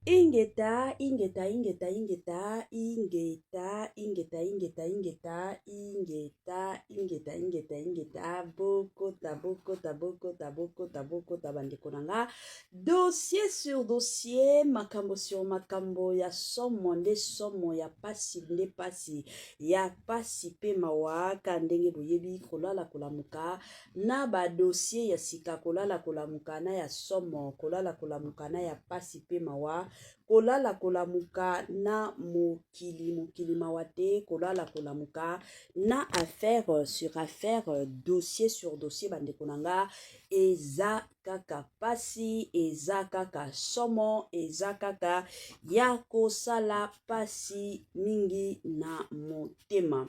Ingeta ingeta ingeta ingeta ingeta ingeta ingeta ingeta ingeta ingeta ingeta ingeta bokota bokota bokota bokota bokota bandeko na nga dossier sur dossier makambo sur makambo ya somo nde somo ya pasi nde pasi ya pasi mpe mawa ka ndenge boyebi kolala kolamuka Na ba dossiers ya sika kolala kolamuka na ya somo, kolala kolamuka na ya pasi mpe mawa, kolala kolamuka na mokili mokili mawa te, kolala kolamuka na affaire sur affaire, dossier sur dossier bandeko na nga eza kaka pasi, eza kaka somo, eza kaka ya kosala pasi mingi na motema.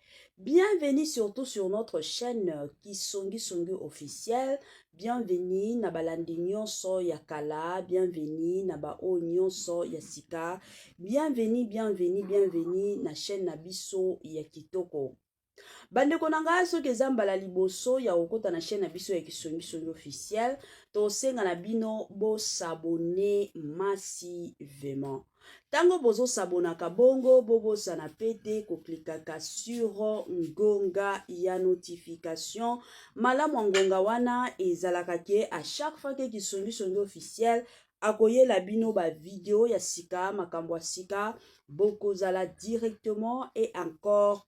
Bienvenue surtout sur notre chaîne euh, Kisongi Songi officiel. Bienvenue na balandi nyonso ya kala, bienvenue na ba o nyonso ya sika. Bienvenue, bienvenue, bienvenue na chaîne na biso ya kitoko. bandeko na ngai soki eza mbala liboso ya kokota na chaîne na biso ya kisongisongi officiel tosenga na bino bosabone masi vraiment Tango bozo sabonaka bongo bobosana pete koklikaka sur ngonga ya notification. Malamu ya ngonga wana ezalaka ke a chaque fois ke kisongisongi officiel akoyela bino ba video ya sika makambo ya sika bokozala directement et encore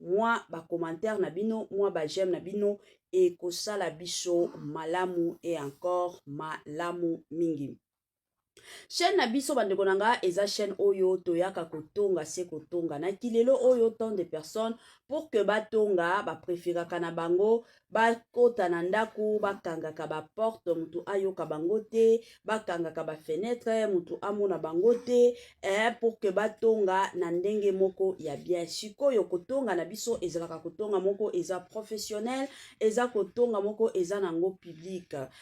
mwa ba commentaire na bino mwa ba j'aime na bino ekosala biso malamu et encore malamu mingi chaîne na biso bandeko na nga eza chaîne oyo toyaka kotonga se kotonga na kilelo oyo tant de personnes pour que batonga bapreferaka na bango bakota na ndako bakangaka baporte motu ayoka bango te bakangaka bafenetre motu amona bango te eh, pour que batonga na ndenge moko ya bien sikoyo kotonga na biso ezalaka kotonga moko eza professionnel eza kotonga moko eza na yango publique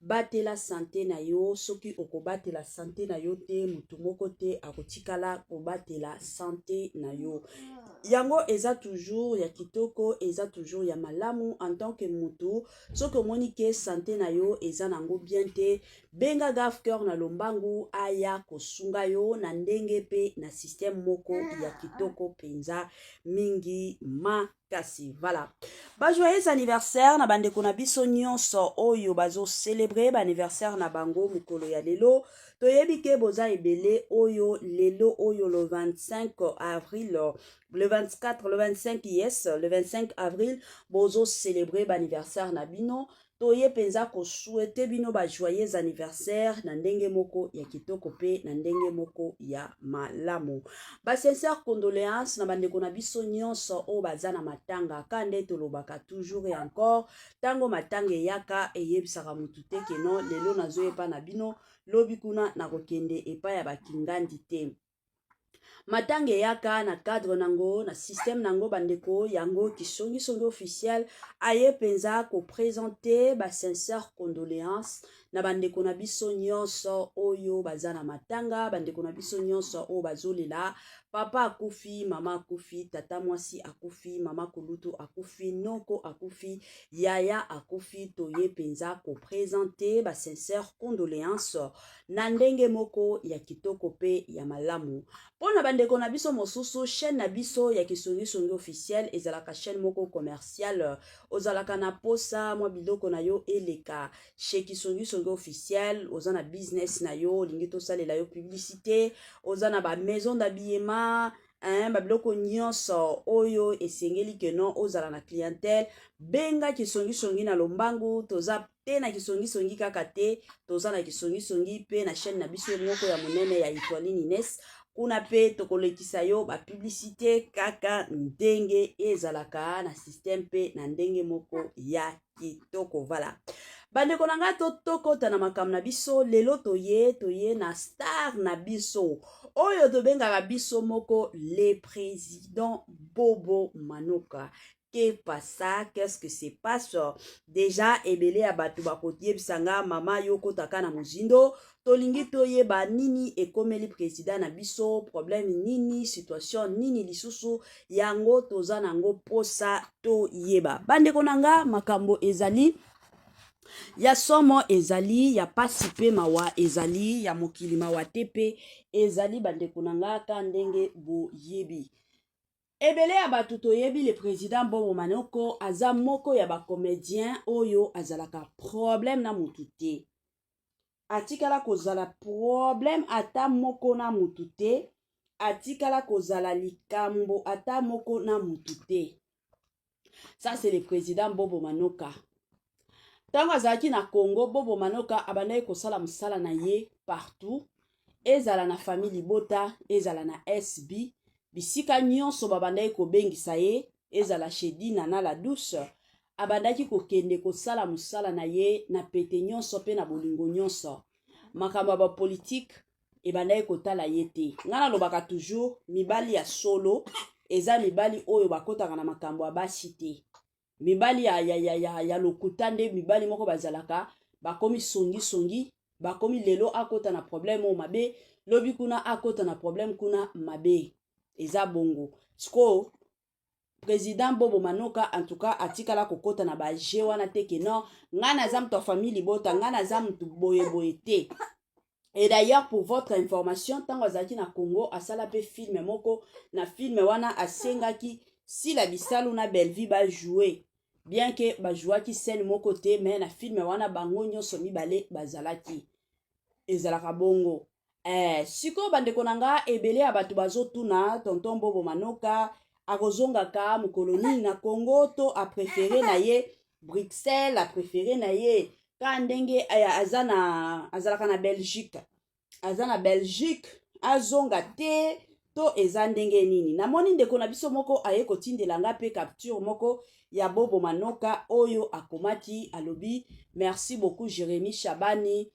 Batela sante na yo. Soki okobatela sante na yo te, moto moko te akotikala kobatela sante na yo. Yango eza toujours ya kitoko, eza toujours ya malamu en tant que moto. Soki omoni ke sante na yo eza nango bien te, benga Gaf Cœur na lombangu aya kosunga yo na ndenge pe na système moko ya kitoko penza mingi ma kasi voilà ba joyeux anniversaire na bandeko na biso nyonso oyo bazo célébrer ba anniversaire na bango mokolo ya lelo toyebi ke boza ebele oyo lelo oyo le 25 avril le 24 le 25 yes le 25 avril bozo célébrer ba anniversaire na bino Toye mpenza ko souhaiter bino ba joyeux anniversaire na ndenge moko ya kitoko mpe na ndenge moko ya malamu. Ba sincères condoléances na bandeko na biso nyonso oyo baza na matanga, ka nde tolobaka toujours et encore, ntango matanga eyaka eyebisaka motu te ke non lelo nazoya epa na bino, lobi kuna nakokende epai ya ba kingandi te. matanga eyaka na cadre nango na système nango bandeko yango kisongisongi officiel aye mpenza kopresente ba sincère condoléance na bandeko na biso nyonso oyo baza na matanga bandeko na biso nyonso oyo bazolela papa akufi mama akufi tata mwasi akufi mama kulutu akufi noko akufi yaya akufi toye mpenza kopresente ba sincère condoléance na ndenge moko ya kitoko pe ya malamu. Pona ba ndeko na biso mosusu, chaîne na biso ya Kisungi Sungi officiel ezalaka chaîne moko commerciale. Ozalaka na posa mwa biloko na yo eleka chez Kisungi Sungi officiel, oza na business na yo, olingi tosalela yo publicité, oza na ba maison d'habillement, hein, ba biloko nyonso oyo esengeli que non ozala na clientèle, benga Kisungi Sungi na lombangu, toza te na kisongisongi kaka te toza na kisongisongi mpe na chaîne na biso moko ya monene ya etoilini nes kuna mpe tokolekisa yo bapublicité kaka ndenge ezalaka na système mpe na ndenge moko ya kitoko vala bandeko na ngai tokota na makambo na biso lelo toye toye na star na biso oyo tobengaka biso moko le président bobo manoka que pasa qu'est-ce que se passe deja ebele ya bato bakoki yebisa nga mama yo okotaka na mozindo tolingi toyeba nini ekomeli president na biso problème nini situation nini lisusu yango toza na yango mposa toyeba bandeko na nga makambo ezali ya somo ezali ya pasi mpe mawa ezali ya mokili mawa te mpe ezali bandeko na nga ka ndenge boyebi ebele ya bato toyebi le président bongo manoko aza moko ya bacomédien oyo azalaka problème na motu te atikala kozala problème ata moko na motu te atikala kozala likambo ata moko na motu te ça c'est le président bobo manoka ntango azalaki na congo bobo manoka abandaki kosala mosala na ye partout ezala na famille libota ezala na sb bisika nyonso babandaki kobengisa ye ezala chez dina na la douce abandaki kokende kosala mosala na ye na pete nyonso mpe na bolingo nyonso makambo ya bapolitike ebandaki kotala ye te ngai nalobaka toujours mibali ya solo eza mibali oyo bakotaka na makambo ya basi te mibali ya, ya, ya, ya, ya lokuta nde mibali moko bazalaka bakomi songisongi bakomi lelo akota na problème oyo mabe lobi kuna akota na problème kuna mabe eza bongo sikoyo president bobo manoka en tout cas atikala kokota na baje wana te ke non ngai naza moto ya famille libota ngai naza moto boyeboye te et d'ailleurs pour votre information ntango azalaki na congo asala mpe filme moko na filme wana asengaki sila bisalu na bellevue bajoue bien ke bajouaki scène moko te mais na filme wana bango nyonso mibale bazalaki ezalaka bongo eh, sikoyo bandeko na nga ebele ya bato bazotuna tonton bobo manoka akozongaka mokolo nini na congo to aprefere na ye bruxelles aprefere na ye kaka ndenge eh, aza na azalaka na belgique aza na belgique azonga te to eza ndenge nini namoni ndeko na biso moko aye kotindela nga mpe capture moko ya bobo manoka oyo akomaki alobi merci beaucoup jérémi shabani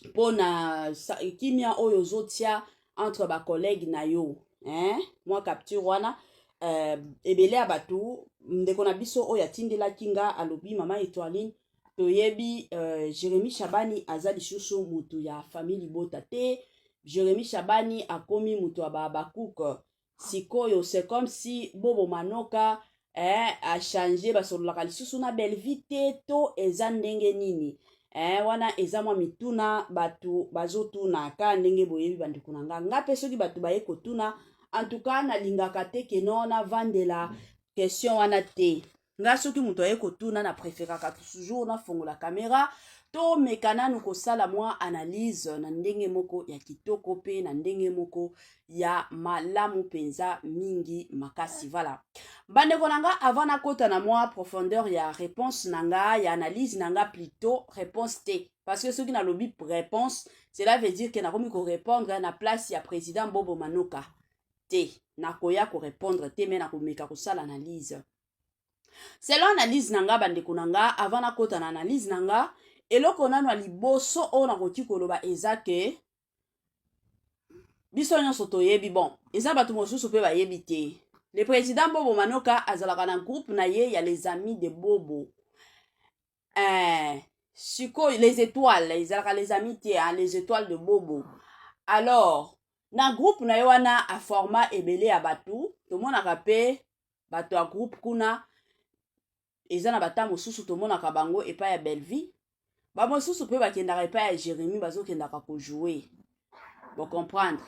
mpo na kimia oyo ozotia entre bacollègue na yo eh? mwa capture wana eh, ebele ya bato ndeko na biso oyo atindelaki nga alobi mama etoiline toyebi eh, jérémi shabani aza lisusu motu ya famille libota te jérémi shabani akomi motu ya bahabakuke sikoyo c'est comme si bobo manoka eh, achange basololaka lisusu na bellevie te to eza ndenge nini eh, wana eza mwa mituna bato bazotuna ka ndenge boyebi bandeko na nga nga mpe soki bato baye kotuna en tout cas nalingaka te keno navandela question wana te nga soki moto aye kotuna na preferaka toujours nafongola kamera tomeka nanu kosala mwa analyse na ndenge moko ya kitoko mpe na ndenge moko ya malamu mpenza mingi makasi vala bandeko na nga avant nakota na mwa profondeur ya réponse na nga ya analyse na nga plutôt réponse te parce que soki nalobi réponse cela veut dire que nakomi korépondre na place ya président bobo manoka te nakoya korepondre te me nakomeka kosala analyse selon analyse na nga bandeko na nga avant nakota na analyse na nga eloko nano ya liboso oyo nakoki koloba eza ke biso nyonso toyebi bon eza bato mosusu mpe bayebi te le président bobo manoka azalaka na groupe na ye ya les amis de bobo eh, sikoyo les étoiles ezalaka les amis te hein, les étoiles de bobo alors na groupe na ye wana aforma ebele ya bato tomonaka mpe bato ya groupe kuna eza na bata mosusu tomonaka bango epai ya bellevie bamosusu mpe bakendaka epai ya jérémi bazokendaka kojoue bocomprendre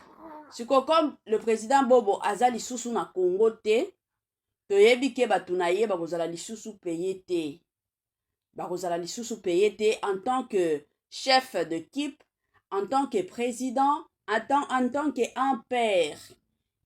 siko comme le président bobo aza lisusu na congo te toyebi ke bato na ye bakozala lisusu peye te bakozala lisusu peye te en tant que chef de kipe en tant que président en tant, en tant que un père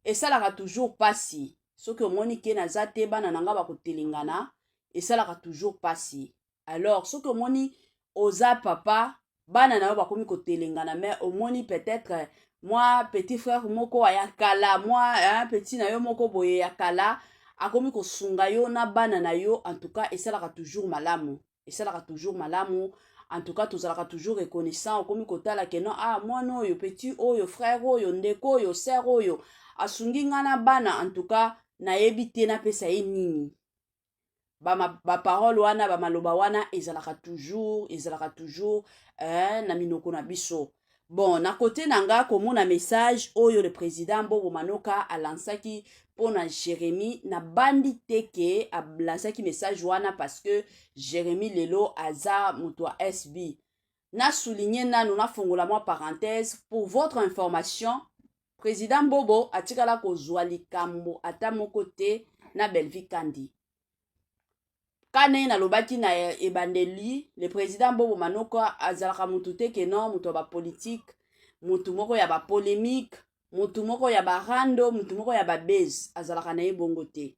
esalaka toujours mpasi soki omoni ke naza te bana na ngai bakotelengana esalaka toujours mpasi alors soki omoni oza papa bana na yo bakomi kotelengana mais omoni peut-être eh, mwa petit frère moko ya kala mwa eh, petit na yo moko boye ya kala akomi kosunga yo na bana na yo en tout cas esalaka toujours malamu esalaka toujours malamu en tout cas tozalaka toujours reconnaissant okomi kotala ke non ah mwana oyo petit oyo frère oyo ndeko oyo sœur oyo asungi ngai na bana en tout cas nayebi te napesa ye nini baparole ba wana bamaloba wana ezalaka toujours ezalaka toujours eh, na minoko na biso bon na kote na nga komona message oyo le président bobo manoka alansaki mpo na jérémie nabandi te ke alansaki message wana parce que jérémie lelo aza moto ya sb na souligne nano nafongola mwa parenthèse pour votre information President Bobo atikala kozwa likambo ata moko te na Bellevue Kandi. Kane nalobaki na ebandeli le president Bobo Manoka azalaka mutu te ke non mutu ya ba politique, mutu moko ya ba polemique, mutu moko ya ba rando, mutu moko ya ba base azalaka na ye bongo te.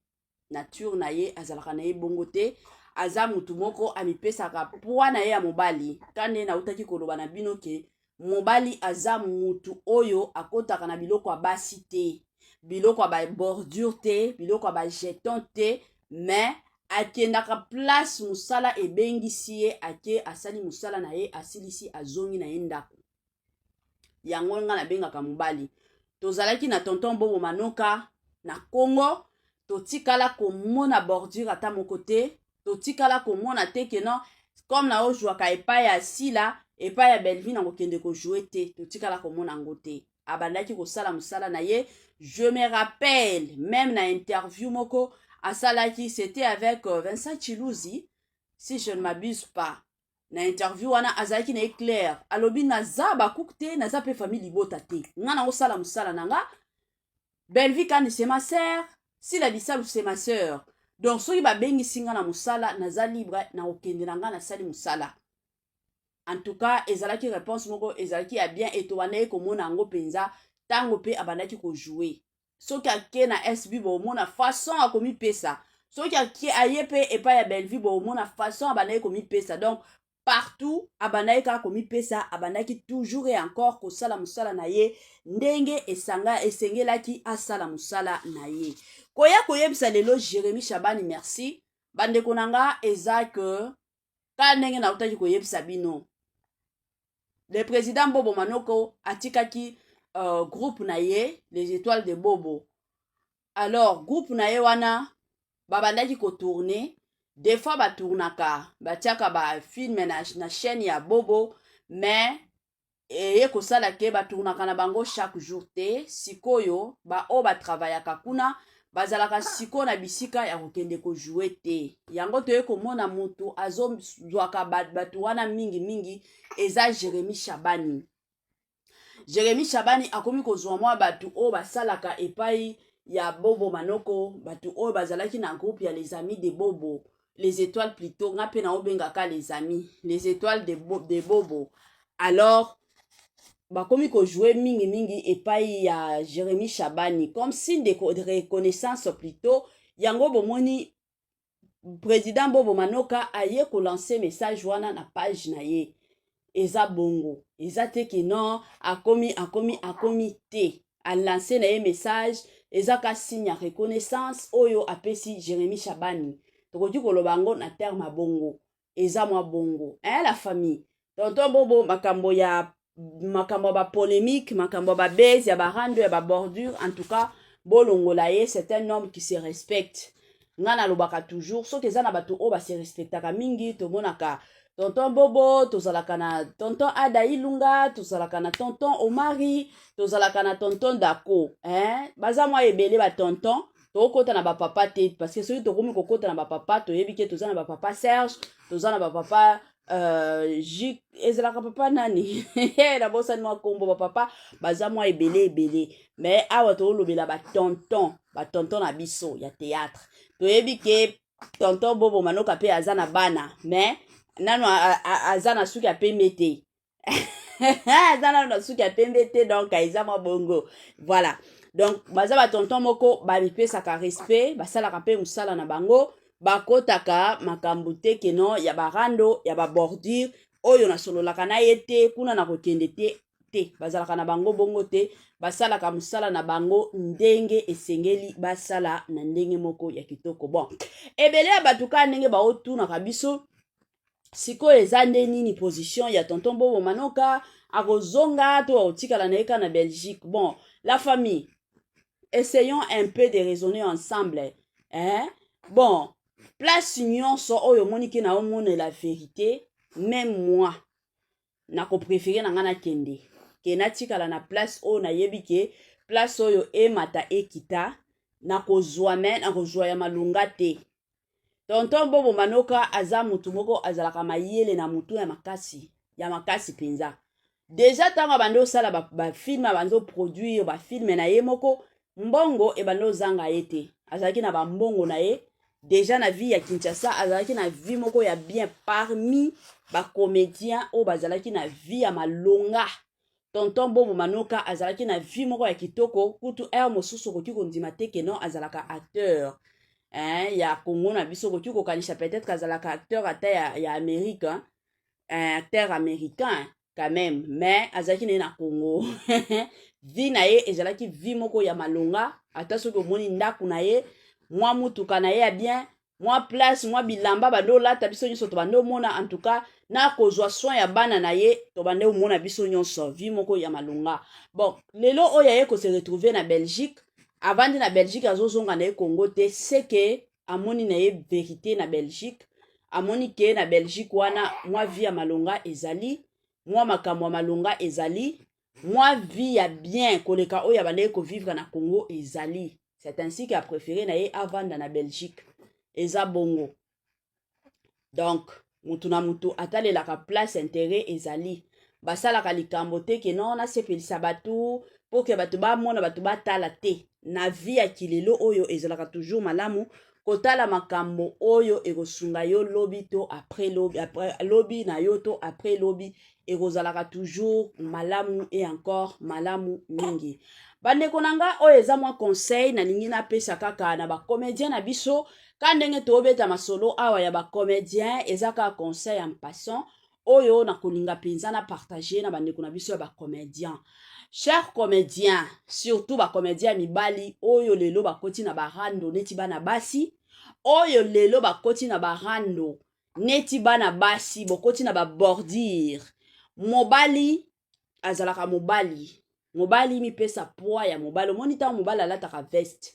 nature na ye azalaka na ye bongo te aza mutu moko amipesaka pwa na ye ya mobali ta nde nautaki koloba na bino ke mobali aza mutu oyo akotaka na biloko ya basi te biloko ya babordure te biloko ya bajeton te mais akendaka place mosala ebengisi ye ake asali mosala na ye asilisi azongi na ye ndako yango ngai nabengaka mobali tozalaki na tonton bobo manoka na congo totikala komona bordure ata moko te totikala komona te ke non comme na ojwaka epai ya sila epai ya bellevie na kokende kojoue te totikala komona yango te abandaki kosala mosala na ye je me rappelle meme na interview moko asalaki c'était avec euh, vincent chiluzi si je ne m'abuse pas na interview wana azalaki na ye claire alobi naza bakuku te naza mpe famille libota te nga na osala mosala na nga belvi kani se ma sere sila bisalu se ma sere donc soki babengisi nga na mosala naza libre na kokende na nga nasali mosala en tout cas ezalaki réponse moko ezalaki ya bien eto bandaki komona yango mpenza ntango mpe abandaki kojoue soki ake na sb bomona façon akomipesa soki ake aye mpe epai ya bellevue bomona façon abandaki komipesa donc partout abandaki kaka komipesa abandaki toujours et encore kosala mosala na ye ndenge esanga esengelaki asala mosala na ye koya koyebisa lelo jérémie shabani merci bandeko na nga eza que kaka ndenge nautaki koyebisa bino le président bobo manoko atikaki uh, groupe na ye les étoiles de bobo alors groupe na ye wana babandaki kotourne des fois batournaka batiaka bafilme na, na chaîne ya bobo mais eye kosala ke batournaka na bango chaque jour te sikoyo baoyo batravayaka kuna bazalaka sikoyo na bisika ya kokende kojoue te yango toye komona motu azozwaka bato wana mingi mingi eza jeremi shabani jeremi shabani akomi kozwa mwa bato oyo basalaka epai ya bobo manoko bato oyo bazalaki na groupe ya les amis de bobo les étoiles plutôt nga mpe naobengaka les amis les étoiles de, bo, de bobo alors bakomi kojoue mingimingi epai ya jérémi shabani comme signe de reconnaissance plutôt yango bomoni président bobo manoka aye kolanse message wana na page na ye eza bongo eza te ke non akomi akomi akomi te alance na ye message eza ka signe ya reconnaissance oyo apesi jérémie shabani tokoki koloba yango na terme ya bongo eza mwa bongo eh, la famille tonton bobo makambo ya makambo ya bapolemique makambo ya babase ya barando ya babordure en tout cas bolongola ye c'est un homme qui se respecte nga nalobaka toujours soki eza na bato oyo base respectaka mingi tomonaka tonton bobo tozalaka na tonton ada ilunga tozalaka na tonton omari tozalaka na tonton dako eh? baza mwa ebele batonton tokokota na bapapa te parce que soki tokomi kokota na bapapa toyebi ke toza na bapapa serge toza na bapapa Euh, J... ezalaka papa nani nabosani mwa nkombo bapapa baza mwa ebele ebele me awa toolobela batonton batonton na biso ya théâtre toyebi ke tonton bobo manoka mpe aza na bana me nano aza na suki ya pembe te aza nano na suki ya pembe te donc eza mwa bongo voilà donc baza batonton moko bamipesaka respect basalaka mpe mosala na bango bakotaka makambo te keno ya barando ya babordure oyo nasololaka na ye te kuna na kokende te te bazalaka na bango bongo te basalaka mosala na bango ndenge esengeli basala na ndenge moko ya kitoko bon ebele ya bato kaka ndenge baotunaka biso sikoyo eza nde nini position ya tonton bobo manoka akozonga to akotikala na ye kaka na belgique bon la famille essayons un peu de raisonner ensemble eh? bon place nyonso oyo omoni ke naomonela verité même moi nakoprefere na ngai nakende ke natikala na place oyo nayebi ke place oyo emata ekita nakozwa me nakozwa ya malonga te tonton bobo manoka aza motu moko azalaka mayele na motu ya makasi ya makasi mpenza deja ntango abandi osala bafilme ba abandi oproduire bafilme na ye moko mbongo ebandi ozanga ye te azalaki na bambongo na ye deja na vie ya kinshasa azalaki na vie moko ya bien parmi bacomédien oyo bazalaki na vie ya malonga tonton bobo manoka azalaki na vie moko ya kitoko kutu heure mosusu okoki kondima te ke non azalaka acteur eh, ya congo na biso okoki kokanisa peut-être azalaka acteur ata ya, ya amerika eh, acteur américain quand même mais azalaki na ye na congo vi na ye ezalaki vi moko ya malonga ata soki omoni ndako na ye mwa motuka na ye ya bien mwa place mwa bilamba bande olata biso nyonso tobande omona en tout cas na kozwa soin ya bana na ye tobande omona biso nyonso vi moko ya malonga bon lelo oyo aye kose retrouve na belgique avandi na belgique azozonga na ye congo te seke amoni na ye verite na belgique amoni ke na belgique wana mwa vie ya malonga ezali mwa makambo ya malonga ezali mwa vie ya bien koleka oyo abandaki kovivre na congo ezali c'est ainsi que apréféré na ye avanda na belgique eza bongo donc mutu na mutu atalelaka place interet ezali basalaka likambo te ke no nasepelisa bato mpo ke bato bamona bato batala te na vie ya kilelo oyo ezalaka toujours malamu kotala makambo oyo ekosunga yo lobi to après lobi, après, lobi na yo to après lobi ekozalaka toujours malamu et encore malamu mingi bandeko na nga oyo eza mwa conseil nalingi napesa kaka na bacomédien na biso ka ndenge tobeta masolo awa ya bacomédien eza kaka conseil en passant oyo nakolinga mpenza na partage na bandeko na biso ya bacomédien cher comédien surtout bacomédien ya mibali oyo lelo bakoti na barando neti bana basi oyo lelo bakoti na barando neti bana basi bokoti na babordire mobali azalaka mobali mobali mipesa poids ya mobali omoni ntango mobali alataka veste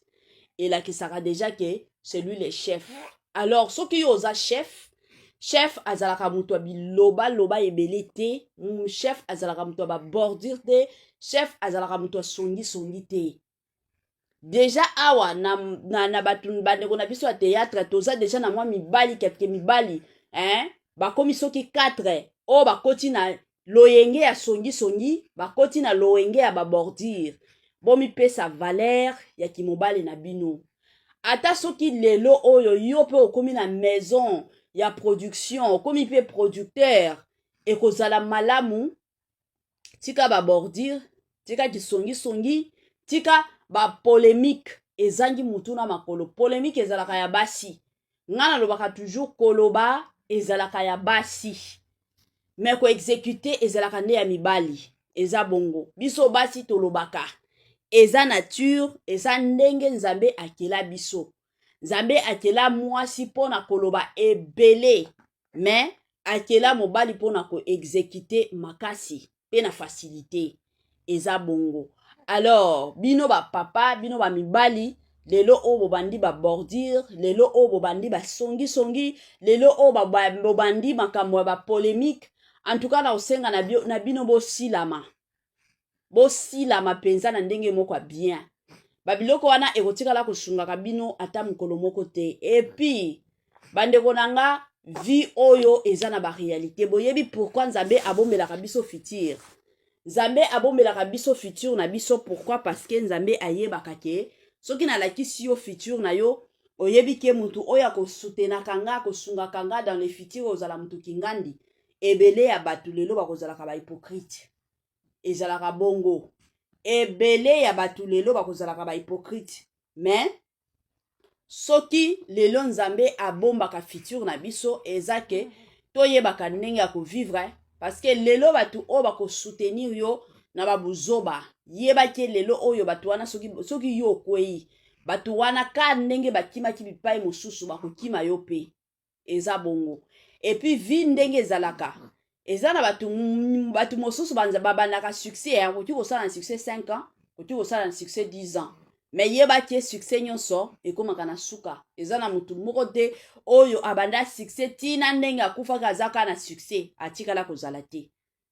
elakisaka deja ke celui le chef alors soki yo oza chef chef azalaka moto ya bilobaloba ebele te mm, chef azalaka moto ya babordire te chef azalaka moto ya songisongi te deja awa na, na, na bato bandeko na biso ya théâtre toza deja na mwa mibali kelke mibali hein? bakomi soki 4 oyo bakoti na loyenge ya songisongi bakoti na loyenge ya babordire bomipesa valere ya kimobali na bino ata soki lelo oyo yo mpe okomi na maison ya production okomi mpe producteur ekozala malamu tika ba bordure tika kisongisongi tika ba polemique ezangi mutu na makolo polemique ezalaka ya basi ngai nalobaka toujours koloba ezalaka ya basi me koexekute ezalaka nde ya mibali eza bongo biso basi tolobaka eza nature eza ndenge nzambe akela biso nzambe akela mwasi mpo na koloba ebele me akela mobali mpo na koexekite makasi mpe na fasilite eza bongo alors bino bapapa bino bamibali lelo oyo bobandi babordire lelo oyo bobandi basongisongi lelo oyo bobandi makambo ya bapolemike antuka na kosenga na bino bosilama bosilama mpenza na ndenge moko ya bien babiloko wana ekotikala kosungaka bino ata mokolo moko te epuis bandeko na nga vie oyo eza na barealité boyebi pourkui nzambe abombelaka biso futur nzambe abombelaka biso futur na biso pourkui parce que nzambe ayebaka ke soki nalakisi yo futur na yo oyebi ke motu oyo akosutenaka nga akosungaka nga dans le futur ozala motu kingandi ebele ya bato lelo bakozalaka bahypocrite ezalaka bongo ebele ya bato lelo bakozalaka bahypocrite mais soki lelo nzambe abombaka future na biso eza ke toyebaka ndenge ya kovivre parce que lelo bato oyo bakosoutenir yo na babuzoba yebaki lelo oyo bato wana soki, soki yo okwei bato wana ka ndenge bakimaki bipai mosusu bakokima yo mpe eza bongo epuis vie ndenge ezalaka eza na bato bato mosusu babandaka succès ya koki kosala na succès 5 ans koki kosala na succès 10 ans me yeba te succès nyonso ekomaka na suka eza na motu moko te oyo abanda succès ntina ndenge akufaki azaka na succès atikala kozala te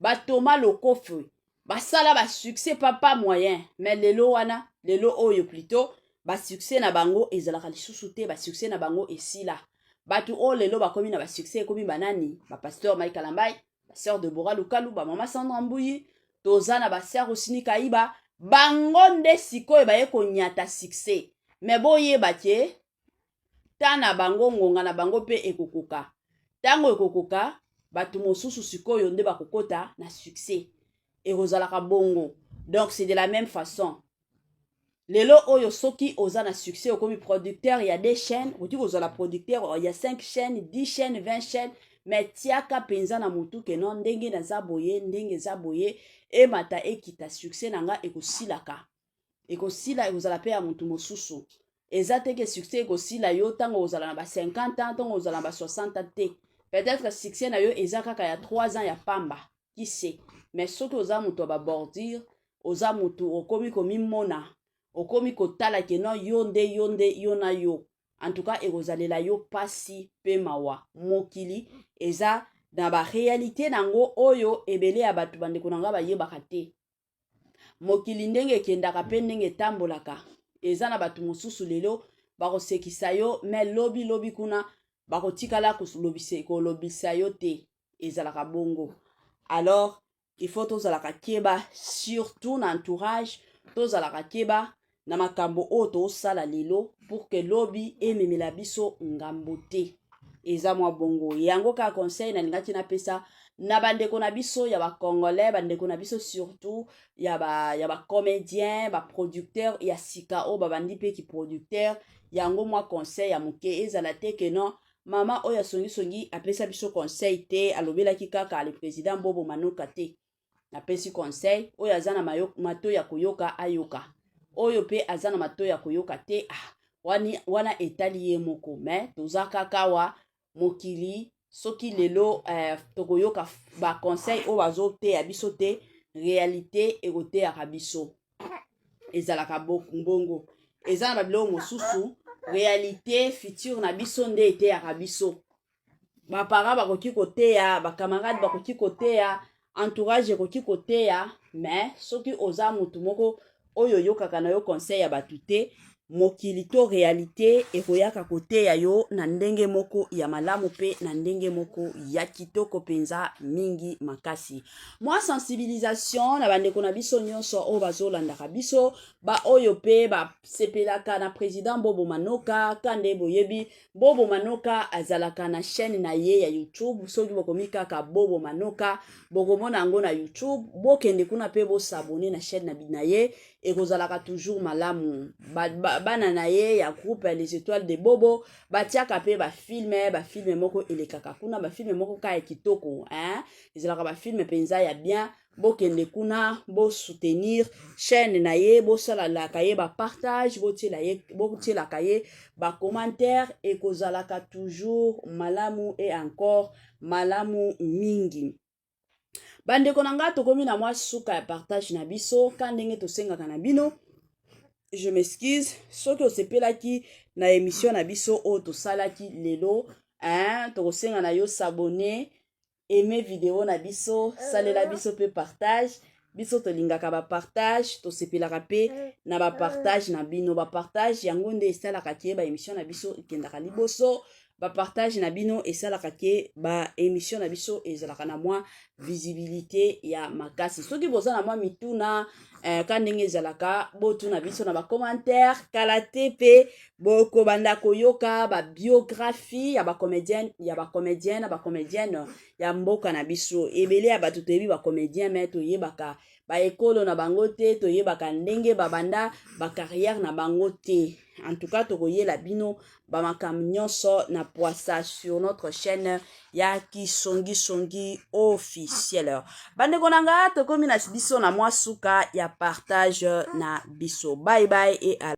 ba Thomas Lokofe basala ba succès pa pas moyen mais lelo wana lelo oyo plutôt ba succès na bango ezalaka lisusu te ba succès na bango esila bato oyo lelo bakomi na ba succès ekomi banani ba pasteur Mike Kalambai ba sœur Deborah Lukalu ba mama Sandra Mbuyi toza na ba sœur Osini Kaiba bango nde sikoyo baye konyata succès mais boyeba ke ntan na bango ngonga na bango mpe ekokoka ntango ekokoka bato mosusu sikoyo nde bakokota na succès ekozalaka bongo donc c'est de la même façon lelo oyo soki oza na succès okomi producteur ya de chaîne okoki kozala producteur ya 5 chaîne 10 chaîne 20 chaîne me tiaka mpenza na motu keno ndenge naza boye ndenge eza boye emata ekita succès na nga ekosilaka ekosila ekozala mpe ya motu mosusu eza te ke succès ekosila yo ntango ozala na ba 50 ans ntango ozala na ba 60 ans te peut-être succès na yo eza kaka ya 3 ans ya pamba qui sait mais soki oza moto ya babordure oza moto okomi komimona okomi kotala ke non yo nde yo nde yo na yo en tout cas ekozalela yo mpasi mpe mawa mokili eza na barealité na yango oyo ebele ya bato bandeko na ngai bayebaka te mokili ndenge ekendaka mpe ndenge etambolaka eza na bato mosusu lelo bakosekisa yo me lobi lobi kuna bakotikala kolobisa yo te ezalaka bongo alors il faut tozalaka keba surtout na entourage tozalaka keba na makambo oyo tosala lelo pour que lobi ememela biso ngambo te eza mwa bongo yango kaka conseil nalingaki napesa na bandeko na biso ya bacongolais bandeko na biso surtout ya bacomédien ba baproducteur ba ya sika oyo babandi mpe kiproducteur yango mwa conseil ya moke ezala te ke non mama oyo asongisongi apesa biso conseil te alobelaki kaka le président bobo manoka te napesi conseil oyo aza na mato ya koyoka ayoka oyo mpe aza na mato ya koyoka te ah, wani, wana etali ye moko me toza kaka wa mokili soki lelo eh, tokoyoka baconseil oyo bazoteya biso te realite ekoteyaka biso ezalaka bongo eza na babiloko mosusu realite future na biso nde eteyaka biso baparent bakoki koteya bacamarade bakoki koteya entourage ekoki koteya mais soki oza motu moko oyo oyokaka na yo conseil ya bato te mokili to realite ekoyaka koteya yo na ndenge moko ya malamu mpe na ndenge moko ya kitoko mpenza mingi makasi mwa sensibilisation na bandeko na biso nyonso oyo bazolandaka biso baoyo mpe basepelaka na president bobo manoka kande boyebi bobo manoka azalaka na chaîne na ye ya youtube soki bokomi kaka bobo manoka bokomona yango na youtube bokende kuna mpe bosabone na chaîne na ye ekozalaka toujours malamu bana ba, ba na ye ya groupe les étoiles de bobo batiaka mpe bafilme bafilme moko elekaka kuna bafilme moko kaka kitoko hein? ezalaka bafilme mpenza ya bien bokende kuna bo soutenir chaîne na ye bosalalaka ye bapartage botielaka ye bacommentaire ekozalaka toujours malamu e encore malamu mingi bandeko na ngai tokomi na mwa suka ya partage na biso ka ndenge tosengaka na bino je m'excuse soki osepelaki na emission na biso oyo tosalaki lelo hein, tokosenga na yo s'abonner aime video na biso salela uh-huh. biso mpe partage biso tolingaka bapartage tosepelaka mpe uh-huh. na bapartage na bino bapartage yango nde esalaka ke baémission na biso ekendaka liboso bapartage na bino esalaka ke baémission na biso ezalaka na mwa visibilité ya makasi soki boza na mwa mituna eh, ka ndenge ezalaka botuna biso na bacommentaire kala te mpe bokobanda koyoka babiographie ya bacomédienne ya bacomédien na bacomédienne ya mboka na biso ebele ya bato toyebi bacomédien me toyebaka baekolo na bango te toyebaka ndenge babanda bacarrière na bango te en tout cas tokoyela bino bamakambo nyonso na poisa sur notre chaîne ya kisongisongi officiel bandeko na nga tokomi na biso na mwa suka ya partage na biso bye bye et